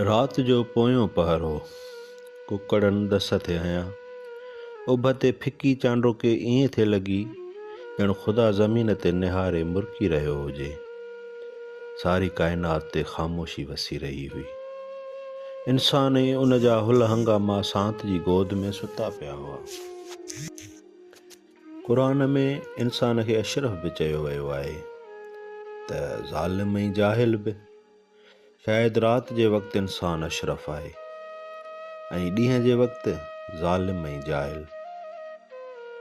رات جو پويون پهر هو. ڪڪڙن ڏس ٿي هنيا. اڀ تي ڦڪي چانڊوڪي ائين ٿي لڳي ڄڻ خدا زمين تي نهاري مرڪي رهيو هجي. ساري ڪائنات تي خاموشي وسي رهي هئي. انسان ۽ ان جا هل هنگاما سانت جي گود ۾ ستا پيا هئا. قرآن ۾ انسان کي اشرف به چيو ويو آهي ته ظالم ۽ جاهل به. شايد رات جي وقت انسان اشرف آهي ۽ ڏينهن جي وقت ظالم ۽ جاهل.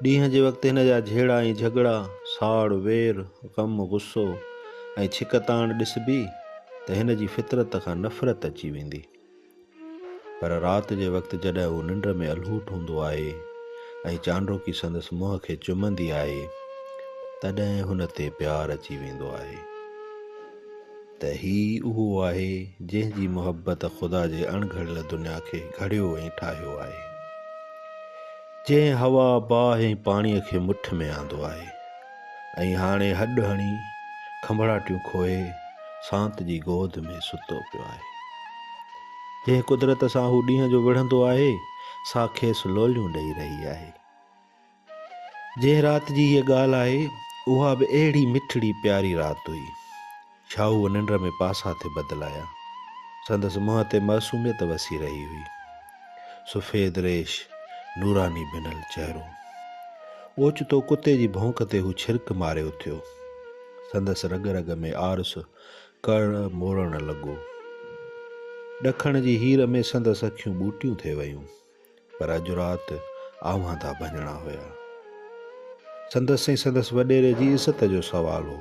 ڏينهن جي وقت هن جا جهيڙا ۽ جهڳڙا، ساڙ، وير، غم، غصو ۽ ڇڪتاڻ ڏسبي ته هن جي فطرت کان نفرت اچي ويندي. پر رات جي وقت جڏهن هو ننڊ ۾ الهوٽ هوندو آهي ۽ چانڊوڪي سندس منهن کي چمندي آهي تڏهن هن تي پيار اچي ويندو آهي ته هي اهو آهي جنهن جي محبت خدا جي اڻ گهڙيل دنيا کي گهڙيو ۽ ٺاهيو آهي جنهن هوا باهه ۽ پاڻي کي مٺ ۾ آندو آهي ۽ هاڻي هڏ هڻي کنڀڙاٽيون کوهي سانت جي گود ۾ ستو پيو آهي. جنهن قدرت سان هو ڏينهن جو وڙهندو آهي، سا کيس لوليون ڏئي رهي آهي. جنهن رات جي هيء ڳالهه آهي، اها به اهڙي مٺڙي پياري رات هئي. ڇاهوء ننڊ ۾ پاسا ٿي بدلايا. سندس منهن تي معصوميت وسي رهي هئي. سفيد ريش، نوراني ڀنل چهرو. اوچتو ڪتي جي ڀونڪ تي هو ڇرڪ ماري اٿيو. سندس رڳ رڳ ۾ آرس ڪڙ موڙڻ لڳو. ڏکڻ جي هير ۾ سندس اکيون ٻوٽيون ٿي ويون، پر اڄ رات آواندا ڀڃڻا هيا. سندس ۽ سندس وڏيري جي عزت جو سوال هو.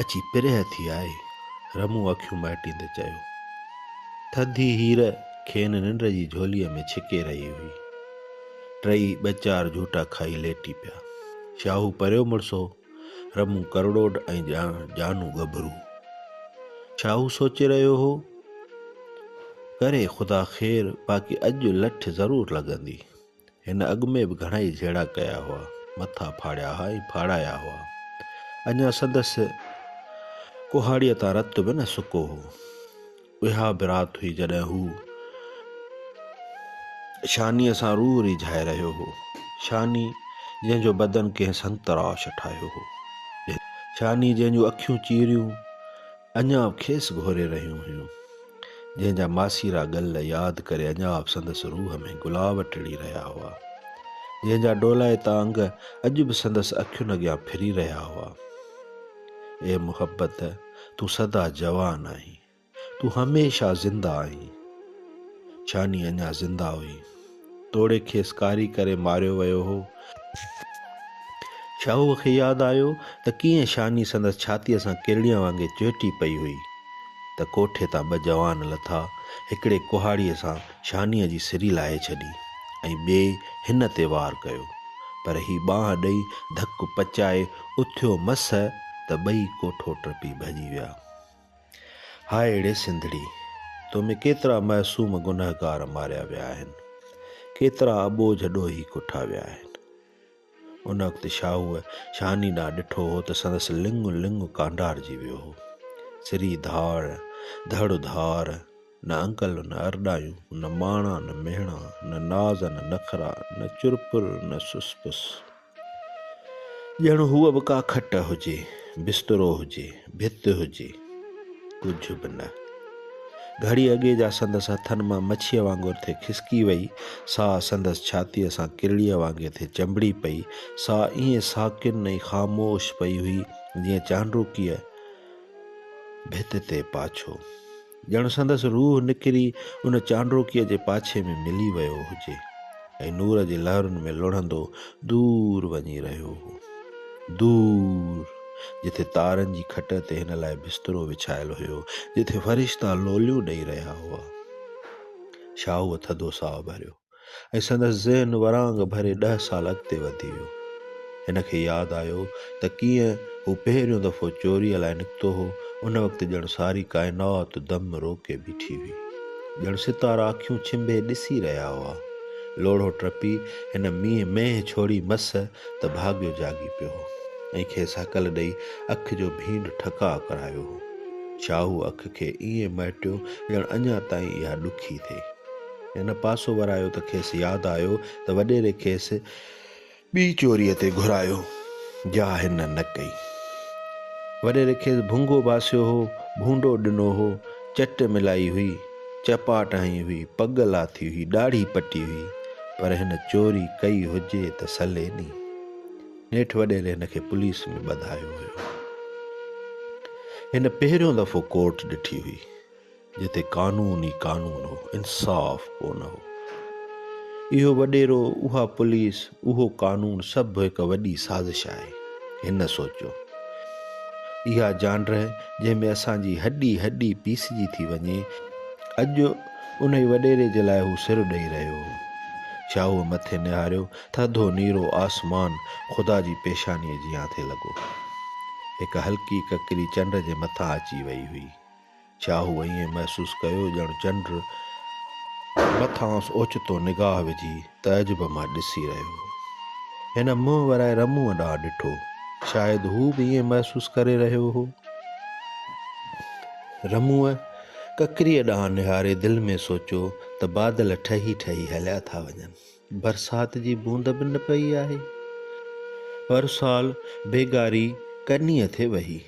اچي پريهه ٿي آئي. رمون اکيون مهٽيندي چيو. ٿڌي هير کين ننڊ جي جهوليء ۾ ڇڪي رهي هئي. ٽئي ٻه چار جهوٽا کائي ليٽي پيا. شاهو پريو مڙسو، رمون ڪرڙوڊ ۽ جانو ڳڀرو. شاهو سوچي رهيو هو، ڪري خدا خير باقي اڄ لٺ ضرور لڳندي. هن اڳ ۾ به گهڻائي جهيڙا ڪيا هئا، مٿا ڦاڙيا ها ۽ ڦاڙايا هئا. اڃا سندس ڪهاڙيء تان رت به نه سڪو هو. اها به رات هئي جڏهن هو شانيء سان روح ريجهائي رهيو هو. شاني جنهن جو بدن ڪنهن سنتراش ٺاهيو هو. شاني جنهن جون اکيون چيريون. اڃا به کيس گهوري رهيون هيون، جنهن جا ماسيرا ڳل ياد ڪري اڃا به سندس روح ۾ گلاب ٽڙي رهيا هئا، جنهن جا ڊولائتا انگ اڄ به سندس اکين اڳيان ڦري رهيا هئا. اي محبت! تون سدا جوان آهين، تون هميشه زنده آهين. ڇاني اڃا زنده هئي. توڙي کيس ڪاري ڪري ماريو ويو هو. شاهوء کي ياد آيو ته ڪيئن شاني سندس ڇاتيء سان ڪرڙيء وانگي چهٽي پئي هئي ته ڪوٺي تان ٻه جوان لٿا، هڪڙي ڪهاڙيء سان شانيء جي سري لاهي ڇڏي ۽ ٻئي هن تي وار ڪيو، پر هي ٻانهن ڏئي ڌڪ پچائي اٿيو مس ته ٻئي ڪوٺو ٽپي ڀڄي ويا. هاء اڙي سنڌڙي! تو ۾ ڪيترا معصوم گنهگار ماريا ويا آهن، ڪيترا اٻوجهه ڏوهي ڪٺا ويا آهن. ان وقت شاهوء شاني ڏانهن ڏٺو هو ته سندس لڱ لڱ ڪانڊارجي ويو هو. سري ڌاڙ، ڌڙ ڌار، نه انڪل، نه ارڏايون، نه ماڻا، نه مهڻا، نه ناز، نه نخرا، نه چرپر، نه سسپس. ڄڻ هوء به ڪا کٽ هجي، بسترو هجي، ڀت هجي، ڪجهه به نه. گهڙي اڳي جا سندس هٿن مان مڇيء وانگر ٿي کسڪي وئي، ساهه سندس ڇاتيء سان ڪرڙيء وانگي ٿي چنبڙي پئي، سا ائين ساڪن ۽ خاموش پئي هئي، جيئن چانڊوڪيء ڀت تي پاڇو. ڄڻ سندس روح نڪري ان چانڊوڪيء جي پاڇي ۾ ملي ويو هجي ۽ نور جي لهرن ۾ لڙهندو دور وڃي رهيو هو. دور، جتي تارن جي کٽ تي هن لاء بسترو وڇايل هيو، جتي فرشتا لوليون ڏئي رهيا هئا. شاهوء ٿڌو ساهه ڀريو. ۽ سندس ذهن ورانگ ڀري ڏهه سال اڳتي وڌي ويو. هن کي ياد آيو ته ڪيئن هو پهريون دفعو چوريء لاء نڪتو هو، ان وقت ڄڻ ساري ڪائنات دم روڪي بيٺي هئي. ڄڻ ستارا اکيون ڇنڀي ڏسي رهيا هئا. لوڙهو ٽپي هن مينهن مينهن ڇوڙي مس ته ڀاڳيو جاڳي پيو هو ۽ کيس هڪل ڏئي اک جو ڀينڊ ٺڪاء ڪرايو هو. شاهوء اک کي ائين مهٽيو ڄڻ اڃا تائين اها ڏکي ٿئي. هن پاسو ورايو ته کيس ياد آيو ته وڏيري کيس ٻي چوريء تي گهرايو، جا هن نه ڪئي. وڏيري کيس ڀونگو باسيو هو، ڀونڊو ڏنو هو، چٽ ملائي هئي، چپاٽ هنئي هئي، پڳ لاٿي هئي، ڏاڙهي پٽي هئي، پر هن چوري ڪئي هجي ته سلي ني. نيٺ وڏيري هن کي پوليس ۾ ٻڌايو هيو. هن پهريون دفعو ڪورٽ ڏٺي هئي. جتي قانون ئي قانون هو، انصاف ڪو نه هو. اهو وڏيرو، اها پوليس، اهو قانون سڀ هڪ وڏي سازش آهي. هن سوچيو. اها جانڊرهه جنهن ۾ اسان جي هڏي هڏي پيسجي ٿي وڃي، اڄ انهي وڏيري جي لاء هو سر ڏئي رهيو هو. شاهوء مٿي نهاريو، ٿڌو نيرو آسمان خدا جي پيشانيء جيان ٿي لڳو. هڪ هلڪي ڪڪري چنڊ جي مٿان اچي وئي هئي. ڇا هو ائين محسوس ڪيو ڄڻ چنڊ مٿانئس اوچتو نگاهه وجهي تعجب مان ڏسي رهيو هو. هن منهن ورائي رموء ڏانهن ڏٺو. شايد هو به ائين محسوس ڪري رهيو هو. رموء ڪڪريء ڏانهن نهاري دل ۾ سوچيو ته بادل ٺهي ٺهي هليا ٿا وڃن. برسات جي بوند به نه پئي آهي. هر سال بيگاري ڪنيء تي وهي.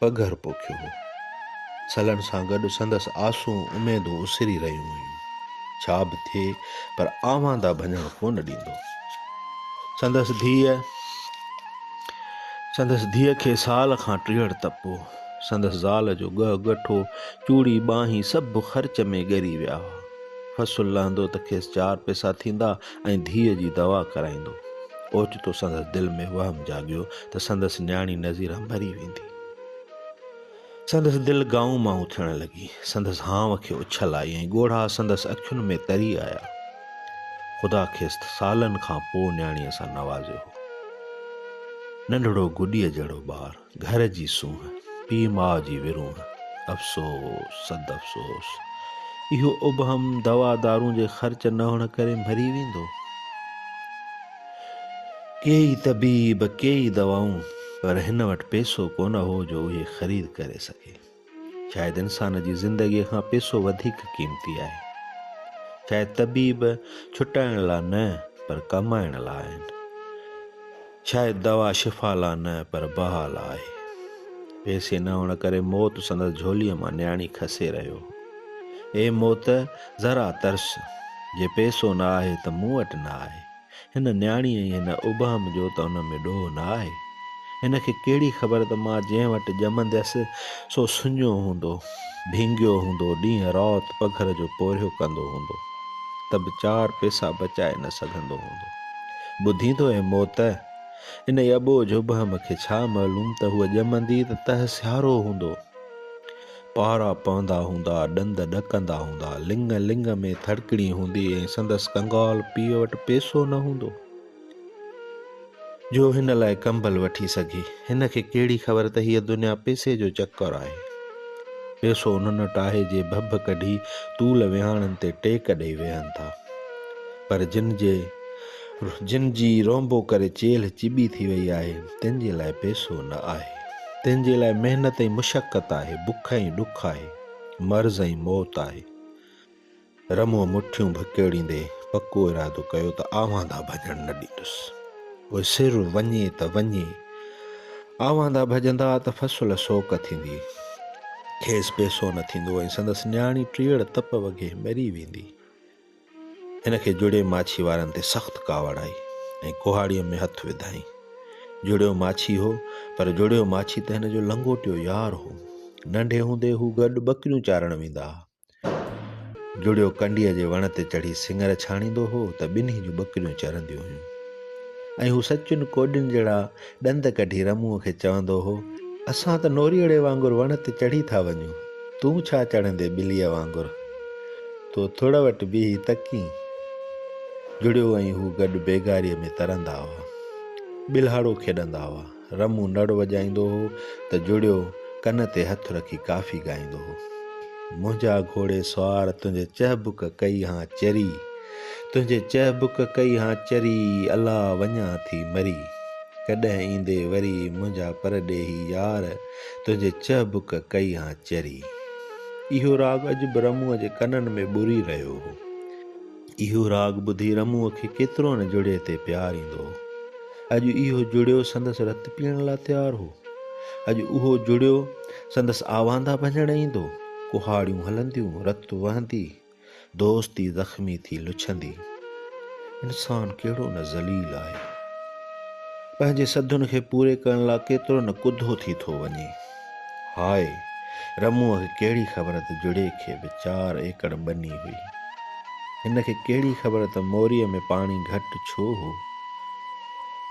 پگهر پوکيو هو. سلڻ سان گڏ سندس آسون اميدون اسري رهيون هيون. ڇا به ٿئي پر آواندا ڀڃڻ ڪونه ڏيندو. سندس ڌيء سندس ڌيء کي سال کان ٽيهڙ تپ هو. سندس زال جو ڳهه ڳٺو، چوڙي ٻانهين سڀ خرچ ۾ ڳري ويا هئا. فصل لهندو ته کيس چار پئسا ٿيندا ۽ ڌيء جي دوا ڪرائيندو. اوچتو سندس دل ۾ وهم جاڳيو ته سندس نياڻي نظيره مري ويندي. سندس دل گائون مائون ٿيڻ لڳي. سندس هانء کي اڇل آئي ۽ ڳوڙها سندس اکين ۾ تري آيا. خدا کيس سالن کان پوء نياڻيء سان نوازيو هو. ننڍڙو گڏيء جهڙو ٻار. گهر جي سونهن، پيء ماء جي ورونهن، افسوس صد افسوس! اهو ابهم دوا دارون جي خرچ نه هئڻ ڪري مري ويندو. ڪيئي طبيب، ڪيئي دوائون، پر هن وٽ پئسو ڪونه هو جو اهي خريد ڪري سگهي. شايد انسان جي زندگيء کان پيسو وڌيڪ قيمتي آهي. شايد طبيب ڇٽائڻ لا نه پر ڪمائڻ لا آهن. شايد دوا شفا لا نه پر بها لا آهي. پيسي نه هئڻ ڪري موت سندس جهوليء مان نياڻي کسي رهيو هو. اي موت! ذرا ترس! جي پيسو نه آهي ته مون وٽ نه آهي. هن نياڻيء جي هن ابهم جو ته ان ۾ ڏوهه نه آهي. هن کي ڪهڙي خبر ته مان جنهن وٽ ڄمنديس سو سڃو هوندو، ڀينگيو هوندو، ڏينهن رات پگهر جو پورهيو ڪندو هوندو ته به چار پيسا بچائي نه سگهندو هوندو. ٻڌين ٿو اي موت! انهيء اٻوجهه ابهم کي ڇا معلوم ته هوء ڄمندي ته تهه سيارو هوندو. پارا پوندا هوندا، ڏند ڏڪندا هوندا، لڱ لڱ ۾ ٿڙڪڻي هوندي ۽ سندس ڪنگال پيء وٽ پيسو نه هوندو، جو هن لاء ڪمبل وٺي سگهي. هن کي ڪهڙي خبر ته هيء دنيا پيسي جو چڪر آهي. پيسو انهن وٽ آهي، جي ڀڀ ڪڍي طول ويهاڻن تي ٽيڪ ڏيئي ويهن ٿا، پر جن جي. جن جي رونبو ڪري چيلهه چٻي ٿي وئي آهي، تن جي لاء پيسو نه آهي. تن جي لاء محنت ۽ مشقت آهي، بک ۽ ڏک آهي، مرض ۽ موت آهي. رموء مٺيون ڀڪيڙيندي پڪو ارادو ڪيو ته آواندا ڀڄڻ نه ڏيندس. پوء سر وڃي ته وڃي. آواندا ڀڄندا ته فصل سوڪ ٿيندي. کيس پيسو نه ٿيندو ۽ سندس نياڻي ٽيڙ تپ وگهي مري ويندي. ان کي جڙي ماڇي وارن تي سخت ڪاوڙ آئي ۽ ڪهاڙيء ۾ هٿ وڌائين. جڙيو ماڇي هو، پر جڙيو ماڇي ته هن جو لنگوٽيو يار هو. ننڍي هوندي هو گڏ ٻڪريون چارڻ ويندا ها. جڙيو ڪنڊيء جي وڻ تي چڙهي سڱر ڇاڻيندو هو ته ٻنهي جون ٻڪريون چرنديون هيون ۽ هو سچن ڪوڏين جهڙا ڏند ڪڍي رموء کي چوندو هو، اسان ته نوريئڙي وانگر وڻ تي چڙهي ٿا وڃون، تون ڇا چڙهندين ٻليء وانگر؟ تو ٿڙ وٽ بيهي تڪين. جڙيو ۽ هو گڏ بيگاريء ۾ ترندا هئا. ٻلهاڙو کيڏندا هئا. رمو نڙ وڄائيندو هو ته جڙيو ڪن تي هٿ رکي ڪافي ڳائيندو هو. منهنجا گهوڙي سوار تنهنجي چهبڪ ڪئي هان چري. تنهنجي چهبڪ ڪئي هان چري، الا وڃان ٿي مري. ڪڏهن ايندي وري منهنجا پرڏيهي يار، تنهنجي چهبڪ ڪئي هان چري. اهو راڳ اڄ به رموء جي ڪنن ۾ ٻري رهيو هو. اهو راڳ ٻڌي رموء کي ڪيترو نه جڙيي تي پيار ايندو هو. اڄ اهو جڙيو سندس رت پيئڻ لا تيار هو. اڄ اهو جڙيو سندس آواندا ڀڃڻ ايندو. ڪهاڙيون هلنديون، رت وهندي. دوستي زخمي ٿي لڇندي، انسان ڪهڙو نه ذليل آهي. پنهنجي سڌن کي پوري ڪرڻ لاء ڪيترو نه ڪڌو ٿي ٿو وڃي. هاء رموء کي ڪهڙي خبر ته جڙي کي به چار ايڪڙ ٻني هئي. هن کي ڪهڙي خبر ته موريء ۾ پاڻي گهٽ ڇو هو.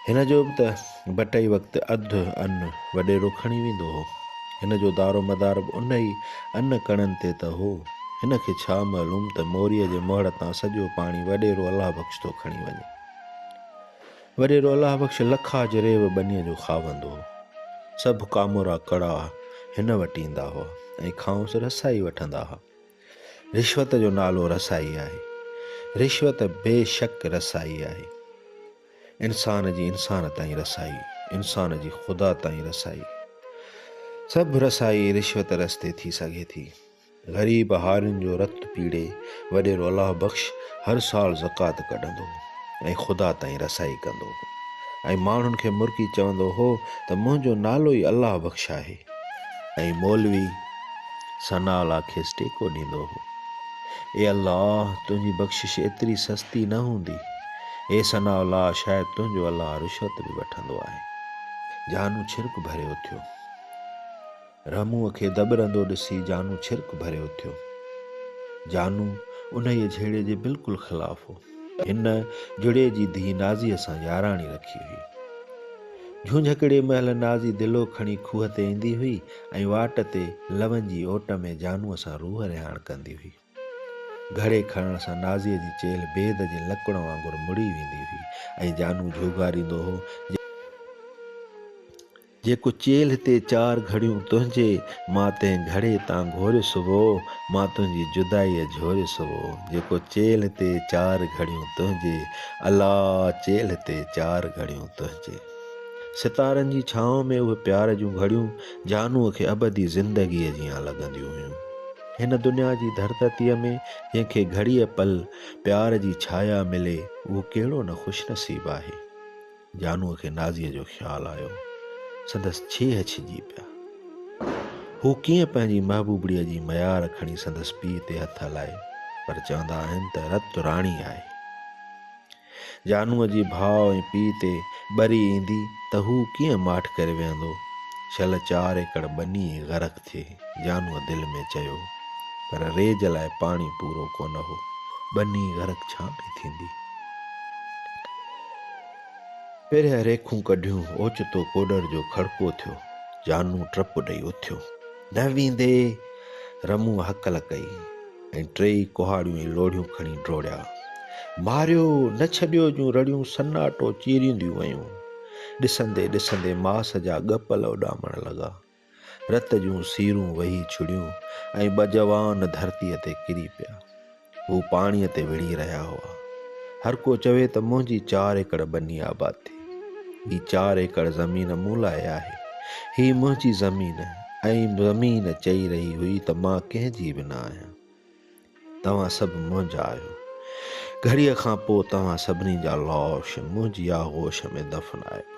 هن جو به ته ڀٽئي وقت اڌ ان وڏيرو کڻي ويندو هو. هن جو دارو مدار به ان ئي ان ڪڻن تي ته هو. هن کي ڇا معلوم ته موريء جي مهڙ تان سڄو پاڻي وڏيرو الله بخش ٿو کڻي وڃي. وڏيرو الله بخش لکا جريب ٻنيء جو خاوند هو. سڀ ڪامورا ڪڙا هن وٽ ايندا هئا ۽ کانئس رسائي وٺندا ها. رشوت جو نالو رسائي آهي. رشوت بيشڪ رسائي آهي. انسان جي انسان تائين رسائي، انسان جي خدا تائين رسائي، سڀ رسائي رشوت رستي ٿي سگهي ٿي. غريب هارين جو رت پيڙي وڏيرو الله بخش هر سال زڪوات ڪڍندو هو ۽ خدا تائين رسائي ڪندو هو ۽ ماڻهن کي مرڪي چوندو هو ته منهنجو نالو ئي الله بخش آهي ۽ مولوي ثناء الله کيس ٽيڪو ڏيندو هو اي الله تنهنجي بخشش ايتري سستي نه هوندي اي ثناء الله! شايد تنهنجو الله رشوت به وٺندو آهي. جانو ڇرڪ ڀري اٿيو. رحموء کي دٻرندو ڏسي جانو ڇرڪ ڀري اٿيو. جانو انهيء جهيڙي جي بلڪل خلاف هو. هن جهڙي جي ڌيء نازيء سان ياراڻي رکي هئي. جهونجهڪڙي مهل نازي دلو کڻي کوهه تي ايندي هئي ۽ واٽ تي لونجي اوٽ ۾ جانوء سان روح رهاڻ ڪندي هئي. گهڙي کڻڻ سان نازيء جي چيلهه بيد جي لڪڻ وانگر مڙي ويندي هئي ۽ جانو جهوڳاريندو هو، جيڪو چيلهه تي چار گهڙيون تنهنجي، مان تنهن گهڙي تان گهوريس هو، مان تنهنجي جدائيء جهوريس هو، جيڪو چيلهه تي چار گهڙيون تنهنجي، الا! چيلهه تي چار گهڙيون تنهنجي. ستارن جي ڇانو ۾ اهي پيار جون گهڙيون جانوء کي ابدي زندگيء جيان لڳنديون هيون. هن دنيا جي ڌرتتيء ۾ جنهن کي گهڙيء پل پيار جي ڇايا ملي، اهو ڪهڙو نه خوش نصيب آهي. جانوء کي نازيء جو خيال آيو. سندس ڇيهه ڇڄي پيا. هو ڪيئن پنهنجي محبوبڙيء جي ميار کڻي سندس پيء تي هٿ هلائي. پر چوندا آهن ته رت راڻي آهي. جانوء جي ڀاء ۽ پيء تي ٻري ايندي ته هو ڪيئن ماٺ ڪري ويهندو. شل چار ايڪڙ ٻني ئي غرق ٿئي، جانوء دل ۾ چيو. پر ريج لاء پاڻي پورو ڪونه هو. ٻني غرق ڇا پئي ٿيندي؟ پرينء ريکون ڪڍيون، اوچتو ڪوڏر جو کڙڪو ٿيو. جانو ٽپ ڏئي اٿيو. نه ويندي رمون هڪل ڪئي ۽ ٽيئي ڪهاڙيون ۽ لوڙهيون کڻي ڊوڙيا. ماريو نه ڇڏيو جون رڙيون سناٽو چيرينديون ويون. ڏسندي ڏسندي ماس جا ڳپل اڏامڻ لڳا. رت جون سيرون وهي ڇڙيون ۽ ٻه جوان ڌرتيء تي ڪري پيا. هو پاڻيء تي وڙهي رهيا هئا. هر ڪو چوي ته منهنجي چار ايڪڙ ٻني آباد ٿي. هي چار ايڪڙ زمين مون لاء آهي. هي منهنجي زمين ۽ زمين چئي رهي هئي ته مان ڪنهن جي به نه آهيان. توهان سڀ منهنجا آهيو. گهڙيء کان پوء توهان سڀني جا لاش منهنجي آغوش ۾ دفن آئبا.